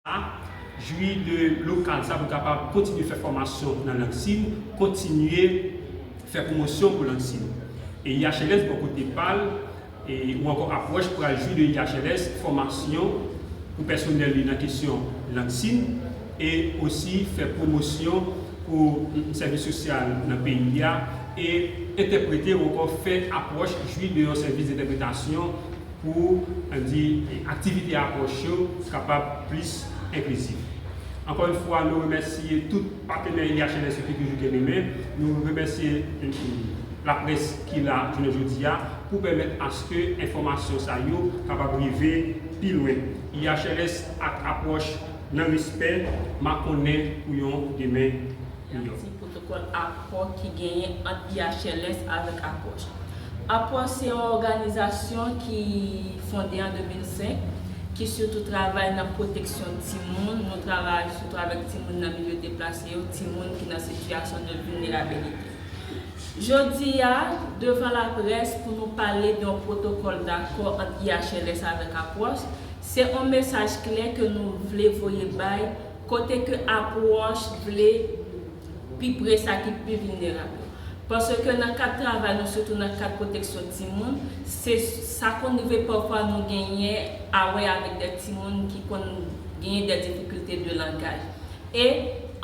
a, jwi de lokal sa pou l kapab kontinye fè fòmasyon nan lang sin, kontinye fè pwomosyon pou lang sin. E IHLS bò kote pa l, ou ankò apwòch pral jwi de IHLS fòmasyon pou pèsonèl li nan kesyon lang sin e osi fè pwomosyon pou sèvis sosyal nan peyi a e entèprete ou ankò fè apwòch jwi de yon sèvis dentèpretasyon pou di aktivite apwòch yo kapab plis enklizif. Ankò yon fwa nou remèsye tout patenè IHLS yo ki toujou kenbe men, nou remèsye laprès ki la jounen jodi a pou pèmèt aske enfòmasyon sa yo kapab rive pi lwen. IHLS ak apwòch nan respè makonnen pou yon demen. Yap di pwotokòl akò ki genyen ant IHLS avèk Apwòch. Apwòch se yon òganizasyon ki fonde an 2005, ki sitou travay nan pwoteksyon timoun, nou travay sitou avèk timoun nan milye deplase yo, timoun ki nan sitiyasyon de vilnerabilite. Jodi a, devan laprès pou nou pale de yon pwotokòl dakò ant IHLS avèk Apwòch, se yon mesaj klè ke nou vle voye bay Kote ke apwòch vle pi pre sa ki pi vilnerab yo. Paske nan kad travay nou sitou nan kad pwoteksyon timoun, se sa konn rive pafwa nou genyen a wè avèk dè timoun ki konn genyen dè difikilte de langaj. E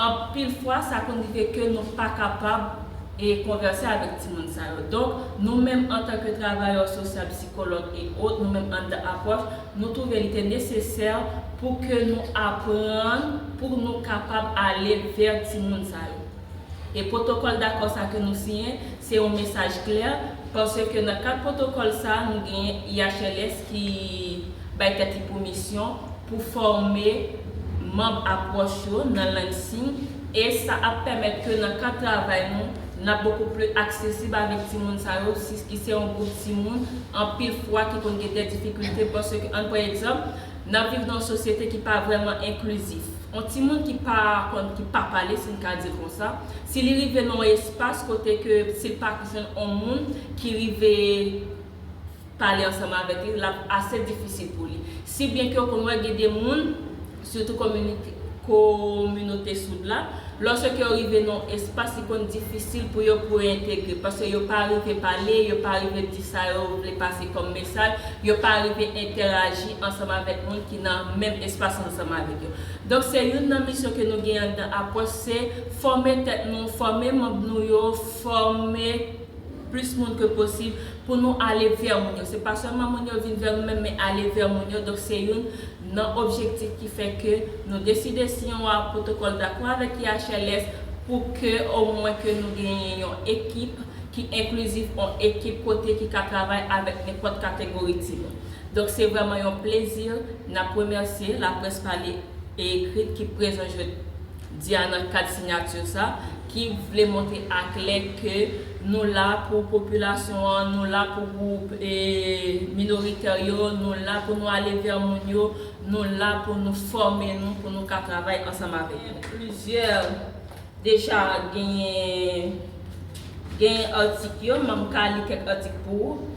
anpil fwa sa konn rive ke nou pa kapab e konvèse avèk timoun sa yo. Donk nou menm antanke travayè sosyal, psikològ e ot, nou menm anndan apwòch, Nou twouve li te nesesè pou ke nou aprann pou nou kapab ale vè timoun sa yo. E pwotokòl dakò sa ke nou siyen, se yon mesaj klè, paske nan kad pwotokòl sa nou genyen IHLS ki bay tèt li pou misyon pou fòme manb apwòch yo nan lang siy e sa ap pèmèt ke nan kad travay nou, n ap bokou pli aksesib avèk timoun sa yo, sis ki se yon gwoup timoun anpil fwa ki konn gen dè difikilte, paske ann pran egzanp, n ap viv nan yon sosyete ki pa vrèman enklizif. On timoun ki pa konn, ki pa pale, si n ka di l konsa, si li rive nan on espas kote ke si l pa jwenn on moun ki rive, pale ansanm avèk li, l ap ase difisil pou li. Si byen ke ou konn wè gen de moun, sitou kominote soud la, lòske yo rive nan yon espas li konn difisil pou yo pou yo entegre, paske yo pa rive pale, yo pa rive di sa yo vle pase kòm mesaj, yo pa rive entèraji ansanm avèk moun ki nan menm espas ansanm avèk yo. Donk se youn nan misyon ke nou gen anndan apwòch se fòme tèt nou, fòme manb nou yo, fòme. plis moun ke posib pou nou ale vè moun yo se pa sèlman moun yo vin vè nou menm men ale vè moun yo donk se youn nan objektif ki fè ke nou deside siyen yon pwotokòl dakò avèk IHLS pou ke omwen ke nou genyen yon ekip ki enklizif yon ekip kote ki ka travay avèk nenpòt kategori timoun donk se vrèman yon plezi n ap remèsye laprès pale e ekrit ki prezan jodi a nan kad sinyati sa. ki vle montre aklè ke nou la pou popilasyon an, nou la pou gwoup minoritè yo, nou la pou nou ale vè moun yo, nou la pou nou fòme nou pou nou ka travay ansanm avèk yo. Plizyè deja genyen atik yo, m ka li kèk atik pou ou.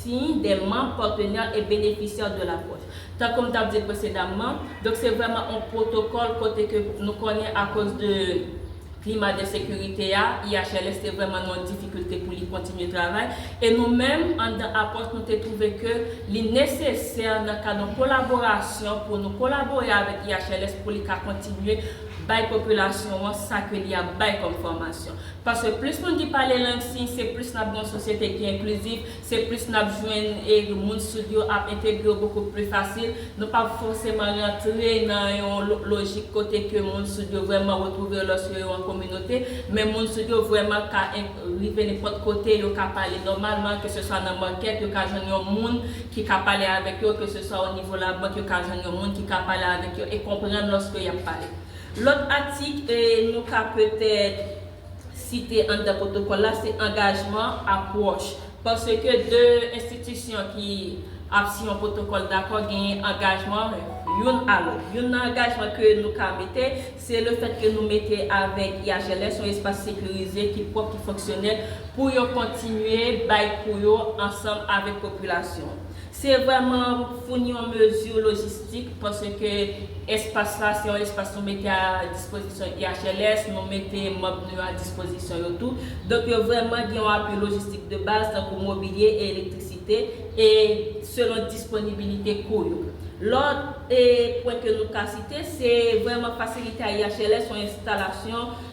siy dè manb patenè e benefisyè de la pwòch. Tankou m tap di presedamman, donk se vrèman on pwotokòl kote ke nou konnen akoz de klima de sekirite a, IHLS te vrèman nan yon difikilte pou li kontinye travay, e nou menm anndan Apòs nou te twouve ke li nesesè nan kad on kolaborasyon pou nou kolabore avèk IHLS pou li ka kontinye bay popilasyon an sa ke li ap bay kòm fòmasyon. Paske plis moun ki pale lang siy, se plis n ap gen yon sosyete ki enklizif, se plis n ap jwenn e moun soud yo ap entegre yo bokou pli fasil. Nou p ap fòseman rantre nan yon lojik kote ke moun soud yo vrèman retwouve yo lòske yo an kominote, men moun soud yo vrèman ka rive nenpòt kote, yo ka pale nòmalman, ke se swa nan makèt, yo ka jwenn yon moun ki ka pale avèk yo, ke se swa o nivo labank, yo ka jwenn yon moun ki ka pale avèk yo e konprann lòske y ap pale. Lòt atik nou ka petèt site anndan pwotokòl la se angajman, apwòch. Paske 2 enstitisyon ki ap siy yon pwotokòl dakò genyen angajman youn a lòt. Youn nan angajman ke nou ka mete, se le fèt ke nou mete avèk IHLS yon espas sekirize ki pwòp, ki fonksyonèl pou yo kontinye bay kou yo ansanm avèk popilasyon. Se vrèman founi yon mezi lojistik paske espas la se yon espas nou mete a dispozisyon IHLS, nou mete manb nou yo a dispozisyon yo tou. Donk yo vrèman gen yon apui lojistik de baz tankou mobilye e elektrisite e selon disponibilite kou yo. Lòt pwen ke nou ka site se vrèman fasilite a IHLS yon enstalasyon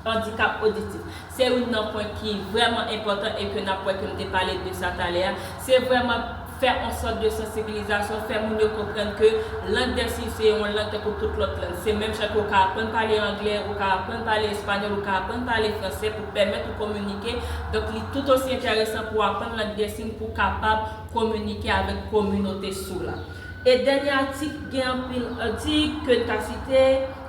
Andikap oditif, se youn nan pwen ki vrèman enpòtan e ke nap wè ke m te pale de sa talè a, se vrèman fè on sòt de sansibilizasyon, fè moun yo konprann ke lang dè siy se on lang tankou tout lòt lang. Se menm jan ke ou ka aprann pale anglè, ou ka aprann pale espanyòl, ou ka aprann pale fransè pou pèmèt ou kominike, donk li tout osi enteresan pou aprann lang dè siy pou kapab kominike avèk kominote si w la. E dènye atik gen anpil atik ke n ka site.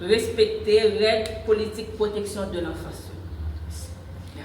respekte règ politik pwoteksyon de lanfans yo.